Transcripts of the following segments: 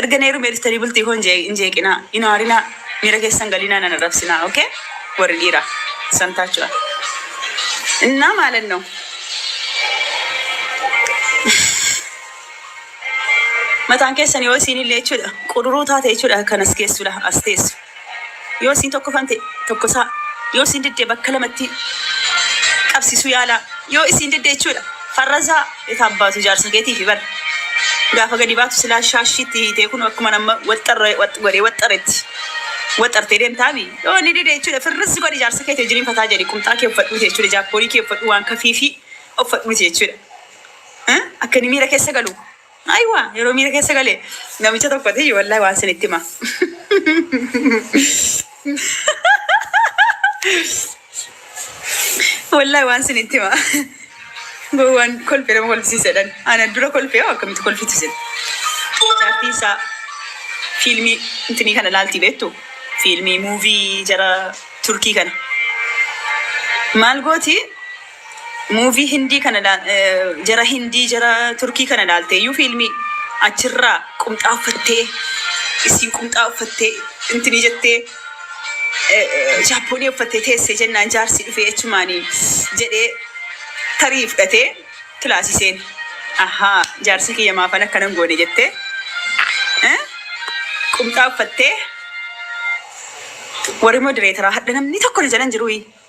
Erga na heerumee dhuftanii bultii koo hin jeeqinaa, hin aarinaa, miira keessa hin galinaa, nan arrabsinaa ok warri dhiiraa samtaachuwal innaa maalan noo mataan keessan yoo isiin illee jechuudha quduruu taate jechuudha kan as geessudha as teessu. Yoo isiin tokkofan ta'e tokkosaa yoo isiin didde bakka lamattii qabsisuu yaalaa yoo isiin didde jechuudha farrazaa et abbaatu jaarsa keetiifi bar gaafa gadi baatu silaa shaashii itti hiitee kun akkuma nama waxxarre waxx godhee waxxaretti waxxartee deemta abi yoo inni dide jechuudha firrizzi godhi jaarsa keeti wajjin hin fataa jedhi qumxaa kee uffadhuuti jechuudha jaakkoonii kee uffadhuu waan kafiifii uffadhuuti jechuudha akka inni miira keessa galu Aywa yeroo miira keessa gale namicha tokkoti wallahi waan sin itti hima. Wallahi waan sin itti hima. Gowwaan kolfe nama kolfisiisedhan. Ana dura kolfe hoo akkamitti kolfitu isin. Jaartii isaa fiilmii intinii kana laaltii beektu fiilmii muuvii jara turkii kana maal gooti Movie hindii kana la jara hindii jara turkii kana laaltee iyyuu fiilmii achirraa qumxaa uffattee issiin qumxaa uffattee intinii jettee jaappoonii uffattee teessee jennaan jaarsi dhufee achumaanii jedhee tarii fudhatee kilaasii seene ahaa jaarsa kiyya maafan akkanan goone jettee eh, qumxaa uffattee warri modereetaraa hadha namni tokko na jalan jiruuyi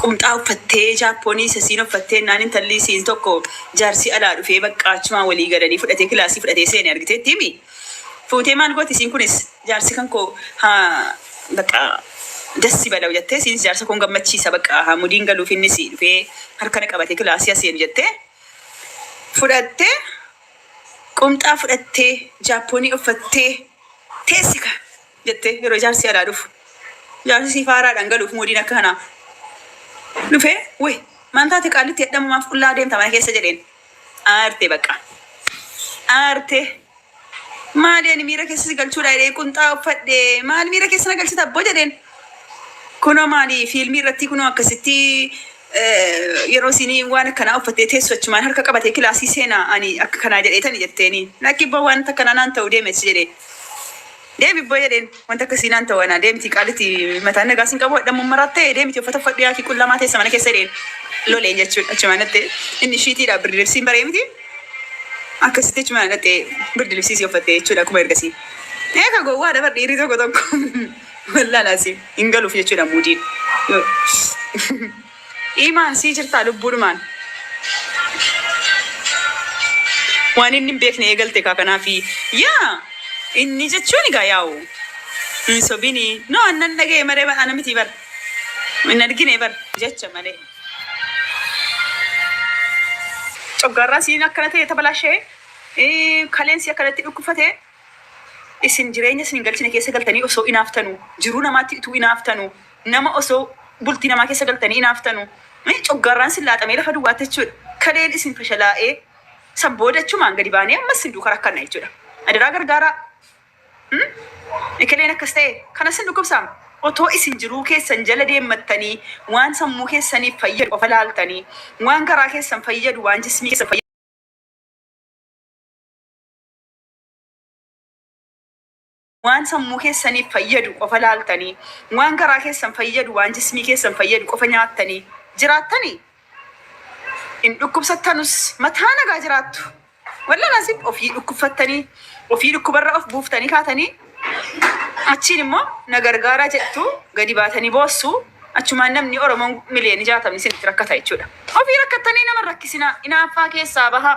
Qumxaa uffattee jaappoonii sasiin offattee ennaan intalli isiin tokko jaarsii alaa dhufee baqqaa achumaan walii galanii fudhatee kilaasii fudhatee seene argiteetti himi fuutee maal gooti isiin kunis jaarsi kan koo haa baqqaa das ibalaw jattee isiinis jaarsa koon gammachiisa baqqaa haa mudiin galuuf innis dhufee harka na qabatee kilaasii haa seenu jattee fudhattee qumxaa fudhattee jaappoonii offattee teessi kaa. jettee yeroo jaarsi alaa dhufu jaarsi siif haaraadhaan galuuf mudiin akka kanaa dhufee way maan taate qaallitti hadhamu maaf qullaa deemta mana keessa jedheen aartee bakka aartee maali ani miira keessa si galchuudha jedhee qunxaa uffadhe maal miira keessa na galchita abboo jedheen kunoo maali fiilmii irratti kunoo akkasitti eh, yeroo isinii waan akkanaa uffattee teessu achumaan harka qabatee kilaasii seenaa ani akka kanaa jedheetani jetteeni lakki abboo waan takkanaa naan ta'u deemessi jedhee Deemi abboo jedheen wanti akkasii naan ta'u anaa deemti qaalitti mataan nagaa sin qabu hadhammoo maraattee deemiti uffata uffadhu yaakii qullamaa teessa mana keessa jedheen loleen jechuudha achumaan dhattee inni shiitiidha birdi libsiin baree miti akkasitti achumaan dhattee birdi libsii si uffattee jechuudha akkuma ergasii eeka gowwaa dabar dhiirri tokko tokko wallaalaa si hin galuuf jechuudha muudiin. Imaan sii jirtaa lubbuudhumaan. Waan inni hin beekne eegalte kaa kanaafi yaa inni jechuun egaa yaa'u hin sobini no an nan dhaga'e maree bar ana miti bar hin argine bar jecha malee coggaarraa siin akkana ta'e tabalaashee kaleen si akkanatti dhukkufate Isin jireenya isin hin galchine keessa galtanii osoo inaaftanu, jiruu namaatti utuu inaaftanu, nama osoo bultii namaa keessa galtanii inaaftanu, coggaarraan isin laaxamee lafa duwwaatti jechuudha. Kaleen isin fashalaa'ee san booda achumaan gadi baanee ammas isin duuka rakkanna jechuudha. Adaraa gargaaraa. Hmm? Ekeleen akkas ta'e kanas hin dhukkubsaama. Otoo isin jiruu keessan jala deemmattanii waan sammuu keessaniif fayyadu qofa laaltanii waan garaa keessan fayyadu waan jismii keessan fayyadu waan sammuu keessaniif fayyadu qofa laaltanii, waan garaa keessan fayyadu, waan jismii keessan fayyadu qofa nyaattanii jiraattanii hin dhukkubsattanus mataa nagaa jiraattu. Wallan asiif ofii dhukkubfattanii, ofii dhukkubarra of buuftanii kaatanii achiin immoo na gargaaraa jettu gadi baatanii boossu achumaan namni Oromoon miliyoonni jaatamni isinitti rakkata jechuudha. Ofii rakkattanii nama rakkisinaa inaaffaa keessaa bahaa.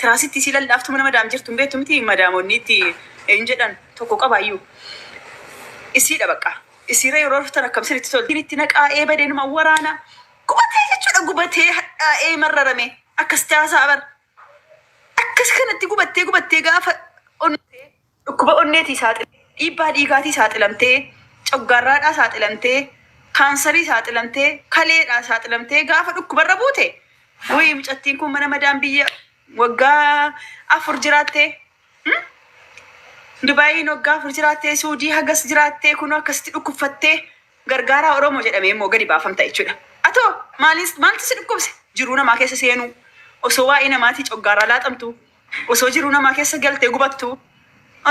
Tiraasitti isii lallaaftu mana madaam jirtu hin beektu miti madaam wonni itti hin jedhan tokko qabaayyuu isiidha baqqaa isiira yeroo raftan akkam sinitti tolti Ittiin itti naqaa ee badee numa waraana gubatee jechuudha gubatee hadhaa ee marrarame akkasitti haasa'a bar akkas kanatti gubattee gubattee gaafa onnatee Dhukkuba onneetii saaxilamtee, dhiibbaa dhiigaatii saaxilamtee, coggaarraadhaa saaxilamtee, kaansarii saaxilamtee, kaleedhaa saaxilamtee gaafa dhukkubarra buute wuyii mucattiin kun mana madaam biyya waggaa afur jiraattee hmm? Dubaayiin waggaa afur jiraattee Suudii hagas jiraattee kunoo akkasitti dhukkubfattee gargaaraa Oromoo jedhamee immoo gadi baafamta jechuudha. Atoo maalis maaltu si dhukkubse? Jiruu namaa keessa seenuu osoo waa'ee namaatii coggaaraa laaxamtu Osoo jiruu namaa keessa galtee gubattuu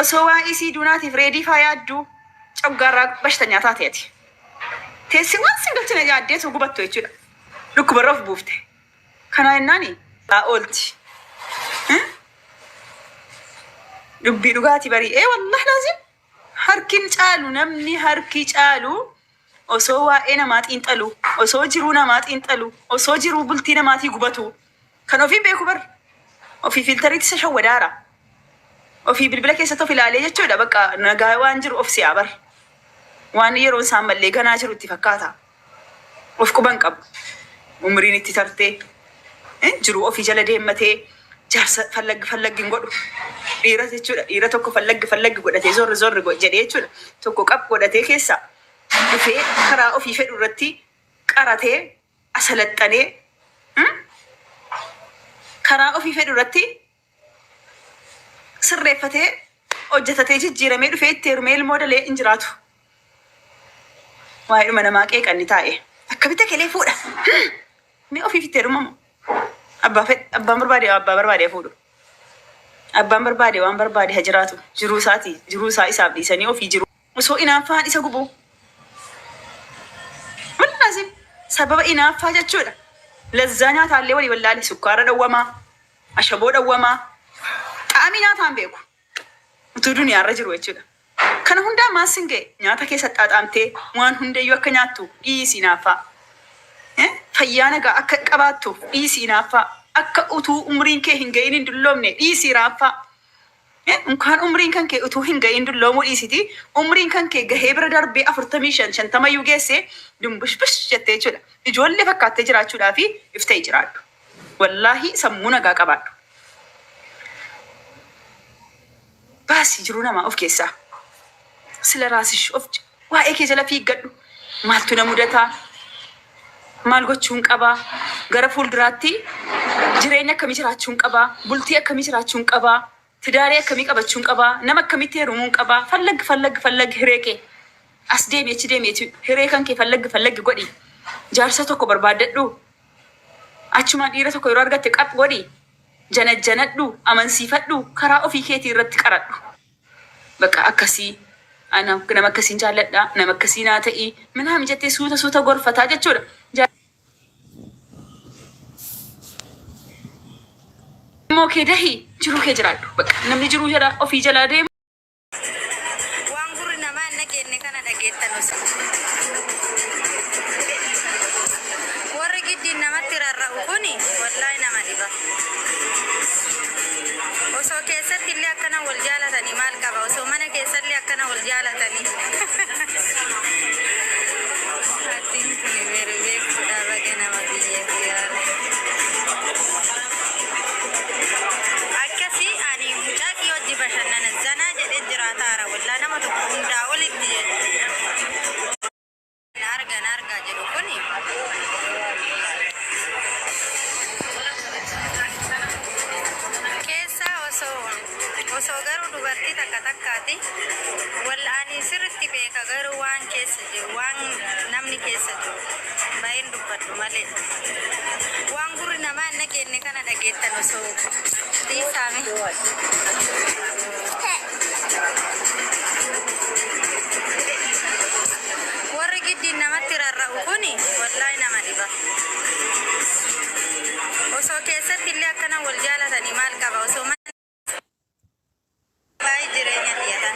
Osoo waa'ee isii duunaatiif reedii faa yaadduu coggaarraa bashtanyaa taate ati. Teessee waan sin galchine yaaddee osoo gubattuu jechuudha. Dhukkubarra of buufte. Kanaa jennaani aa oolti. Hii? Dubbii dhugaati barii. Ee wallaah laaziim harkin caalu namni harki caalu Osoo waa'ee namaa xiinxaluu, osoo jiruu namaa xiinxaluu, osoo jiruu bultii namaatii gubatuu, kan ofii hin beeku bar. Ofii fiiltariitti isa shawwadaara. Ofii bilbila keessatti of ilaalee jechuudha bakka nagaa waan jiru of se'a bar. Waan yeroon isaan mallee ganaa jiru itti fakkaata. Of quba hin qabu. Umriin itti tartee Hin jiruu ofii jala deemmatee jaarsa fallaggi fallaggi hin godhu. Dhiira jechuudha. Dhiira tokko fallaggi fallaggi godhatee zorri zorri go- jedhee jechuudha. Tokko qab godhatee keessaa dhufee karaa ofii fedhu irratti qaratee asalaxxanee hmm? karaa ofii fedhu irratti sirreeffatee hojjetatee jijjiiramee dhufee itti heerumee ilmoo dalee hin jiraatu. Waa'ee dhuma namaa qeeqan ni taa'e. Akkamitti kelee fuudha? Ni ofiif itti heerumamu. Abbaa fedhe abbaan barbaade abbaa barbaade fuudhu. Abbaan barbaade waan barbaade ha jiraatu. Jiruu isaati. Jiruu isaa isaaf dhiisanii ofii jiru. Osoo inaaffaan isa gubu. Wallaazim sababa inaaffaa jechuudha. Lazzaa nyaataallee walii wallaale sukkaara dhowwamaa. Ashaboo dhawwamaa xaa'amii nyaataa hin beeku. Utuu duniyaarra jiru jechuudha. Kana hundaa maal sin ga'e nyaata kee saxxaaxaamtee waan hundayyuu akka nyaattu dhiisi inaaffaa. Eh, Fayyaa nagaa akka qabaattu dhiisi inaaffaa. Akka utuu umriin kee hin ga'in hin dulloomne dhiisi iraaffaa. Hin unkaan umriin kan kee utuu hin ga'iin dulloomuu dhiisitii umriin kan kee gahee bira darbee 45, 50 iyyuu geessee dumbushbush jettee jechuudha ijoollee fakkaattee jiraachuudhaafi if ta'i jiraadhu. Wallaahii sammuu nagaa qabaadhu. Baasi jiruu namaa of keessaa. Sila raasish of Waa'ee kee jala fiiggadhu. Maaltu na mudata? Maal gochuun qaba? Gara fuulduraatti jireenya akkamii jiraachuun qaba? Bultii akkamii jiraachuun qaba? Tidaarii akkamii qabachuun qaba? Nama akkamitti heerumuun qaba? Fallag fallag fallag hiree kee. As deemi achi deemi achi hiree kan kee fallag fallag godhi. Jaarsa tokko barbaaddadhu. Achumaan dhiira tokko yeroo argatte qap godhi. Janajjanadhu, amansiifadhu, karaa ofii keetii irratti qaradhu. Baqa akkasii Ana nama akkasiin jaalladha nama akkasii naa ta'i minaamin jettee suuta suuta gorfataa jechuudha. Ilmoo kee dahi jiruu kee jiraadhu baqa namni jiruu jala ofii jalaa deemu. Waan gurri namaa hin dhageenne kana dhageettan osi. Warri giddiin namatti rarra'u kuni wallahi nama dhiba. Osoo keessatti illee akkana wal jaalatanii maal qaba osoo mana keessa illee akkana wal jaalatanii. Attiin kun beeru beekudha baga nama biyya siyaara. Akkasii ani mucaa kiyya hojii bashannana zanaa jedhee jiraataara wallaa nama tokko hundaa olitti jechuudha. Na arga na arga jedhu kuni. Keessa osoo osoo garuu dubartii takka takkaati wal ani sirritti beeka garuu waan keessa jiru waan namni keessa jiru baay'een dubbadhu malee waan gurri namaa hin dhageenne kana dhageettan osoo dhiisaame. Warri giddiin namatti rarra'u kuni wallahi nama dhiba. Osoo keessatti illee akkana wal jaalatanii maal qaba osoo mana baay'ee jireenya xiyatan.